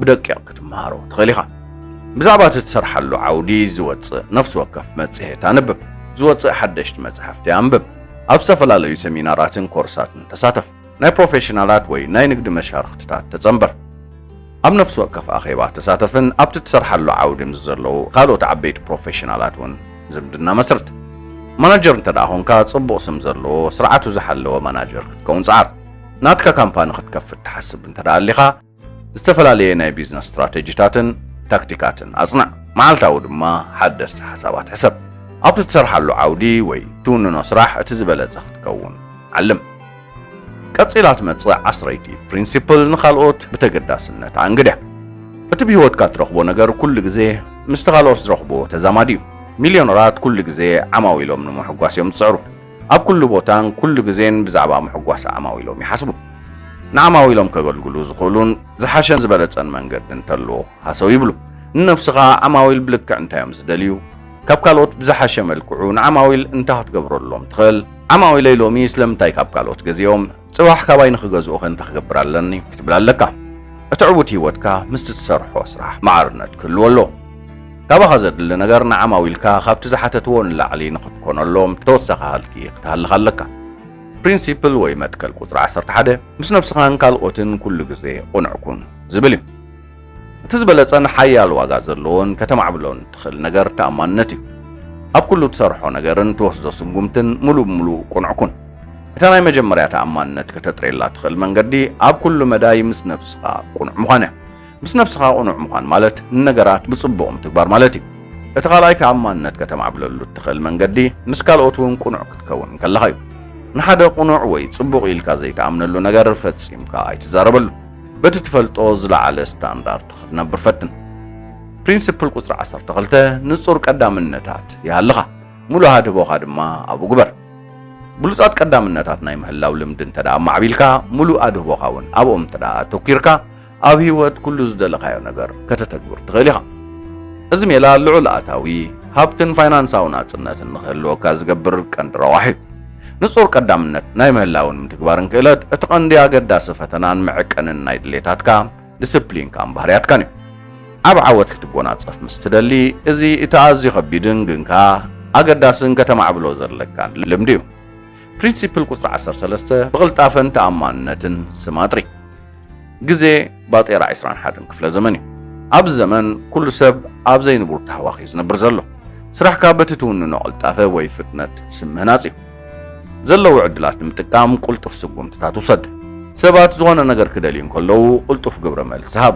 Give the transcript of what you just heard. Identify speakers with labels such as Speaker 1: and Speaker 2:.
Speaker 1: ብደቂቕ ክትመሃሮ ትኽእል ኢኻ። ብዛዕባ እቲ ትሰርሓሉ ዓውዲ ዝወጽእ ነፍሲ ወከፍ መጽሔት ኣንብብ። ዝወጽእ ሓደሽቲ መጻሕፍቲ ኣንብብ። ኣብ ዝተፈላለዩ ሰሚናራትን ኮርሳትን ተሳተፍ። ናይ ፕሮፌሽናላት ወይ ናይ ንግዲ መሻርኽትታት ተጸንበር። ኣብ ነፍሲ ወከፍ ኣኼባ ተሳተፍን ኣብቲ ትሰርሓሉ ዓውዲ ምስ ዘለዉ ካልኦት ዓበይቲ ፕሮፌሽናላት እውን ዝምድና መስርት። ማናጀር እንተደኣ ኾንካ ጽቡቕ ስም ዘለዎ ስርዓቱ ዝሓለወ ማናጀር ክትከውን ጸዓር። ናትካ ካምፓኒ ክትከፍት ትሓስብ እንተደኣ ኣሊኻ፣ ዝተፈላለየ ናይ ቢዝነስ ስትራተጂታትን ታክቲካትን ኣጽንዕ፣ መዓልታዊ ድማ ሓደስቲ ሓሳባት ሕሰብ። ኣብቲ ትሰርሓሉ ዓውዲ ወይ ትውንኖ ስራሕ እቲ ዝበለጸ ክትከውን ዓልም። ቀጺላ ትመጽእ ዓስረይቲ ፕሪንሲፕል ንኻልኦት ብተገዳስነት ኣንግድያ። እቲ ብህይወትካ እትረኽቦ ነገር ኩሉ ግዜ ምስቲ ካልኦት ዝረኽብዎ ተዛማዲ እዩ። ሚልዮነራት ኩሉ ግዜ ዓማዊሎም ንምሕጓስ እዮም ዝጽዕሩ። ኣብ ኩሉ ቦታን ኩሉ ግዜን ብዛዕባ ምሕጓስ ዓማዊሎም ይሓስቡ። ንዓማዊሎም ከገልግሉ ዝኽእሉን ዝሓሸን ዝበለጸን መንገዲ እንተሎ ሃሰው ይብሉ። ንነብስኻ ዓማዊል ብልክዕ እንታይ'ዮም ዝደልዩ? ካብ ካልኦት ብዝሓሸ መልክዑ ንዓማዊል እንታይ ክትገብረሎም ትኽእል? ዓማዊለይ ሎሚ ስለምንታይ ካብ ካልኦት ገዚኦም? ጽባሕ ካባይ ንኽገዝኡኺ እንታይ ክገብር ኣለኒ ክትብል ኣለካ። እቲ ዕዉት ህይወትካ ምስቲ ትሰርሖ ስራሕ ማዕርነት ክህልዎ ኣለዎ። ካባኻ ዘድሊ ነገር ንዓማዊልካ ካብቲ ዝሓተትዎ ንላዕሊ ንኽትኮነሎም ተወሳኺ ሃልኪ ክትሃልኽ ኣለካ። ፕሪንሲፕል ወይ መትከል ቁጽሪ ዓሰርተ ሓደ ምስ ነብስኻን ካልኦትን ኩሉ ግዜ ቕኑዕ ኩን ዝብል እዩ። እቲ ዝበለጸን ሓያል ዋጋ ዘለዎን ከተማዕብሎን እትኽእል ነገር ተኣማንነት እዩ። ኣብ ኩሉ እትሰርሖ ነገርን እትወስዶ ስጉምትን ምሉእ ብምሉእ ቅኑዕ ኩን። እታ ናይ መጀመርያ ተኣማንነት ከተጥርየላ እትኽእል መንገዲ ኣብ ኩሉ መዳይ ምስ ነብስኻ ቅኑዕ ምዃን እያ። ምስ ነብስኻ ቅኑዕ ምዃን ማለት ንነገራት ብጽቡቕ ምትግባር ማለት እዩ። እቲ ካልኣይ ተኣማንነት ከተማዕብለሉ እትኽእል መንገዲ ምስ ካልኦት እውን ቅኑዕ ክትከውን ከለኻ እዩ። ንሓደ ቅኑዕ ወይ ጽቡቕ ኢልካ ዘይትኣምነሉ ነገር ፈጺምካ ኣይትዛረበሉ። በቲ ትፈልጦ ዝለዓለ ስታንዳርድ ክትነብር ፈትን። ፕሪንስፕል ቁጽሪ ዓሰርተ ክልተ ንጹር ቀዳምነታት ይሃልኻ፣ ሙሉእ ሃድህቦኻ ድማ ኣብኡ ግበር። ብሉጻት ቀዳምነታት ናይ ምህላው ልምዲ እንተ ደኣ ኣማዕቢልካ፣ ሙሉእ ኣድህቦኻ እውን ኣብኦም እንተ ደኣ ኣተኲርካ፣ ኣብ ህይወት ኩሉ ዝደለኻዮ ነገር ከተተግብር ትኽእል ኢኻ። እዚ ሜላ ልዑል ኣታዊ፣ ሃብትን ፋይናንሳዊ ናጽነትን ንኽህልወካ ዝገብር ቀንዲ ረቛሒ እዩ። ንጹር ቀዳምነት ናይ ምህላውን ምትግባርን ክእለት እቲ ቀንዲ ኣገዳሲ ፈተናን መዐቀንን ናይ ድሌታትካ፣ ድስፕሊንካን ባህርያትካን እዩ። ዓቢ ዓወት ክትጎናጸፍ ምስ ትደሊ፣ እዚ እቲ ኣዝዩ ከቢድን ግን ከኣ ኣገዳስን ከተማዕብሎ ዘለካን ልምዲ እዩ። ፕሪንሲፕል ቁጽሪ ዓሰርተ ሰለስተ፣ ብቕልጣፈን ተኣማንነትን ስም ኣጥሪ። ግዜ ባጤራ ዕስራን ሓደን ክፍለ ዘመን እዩ። ኣብዚ ዘመን ኩሉ ሰብ ኣብ ዘይንቡር ታህዋኽ እዩ ዝነብር ዘሎ። ስራሕካ በቲ ትውንኖ ቅልጣፈ ወይ ፍጥነት ስም ምህናጽ እዩ። ዘለዉ ዕድላት ንምጥቃም ቁልጡፍ ስጉምትታት ውሰድ። ሰባት ዝኾነ ነገር ክደልዩ እንከለዉ ቁልጡፍ ግብረ መልሲ ሃብ።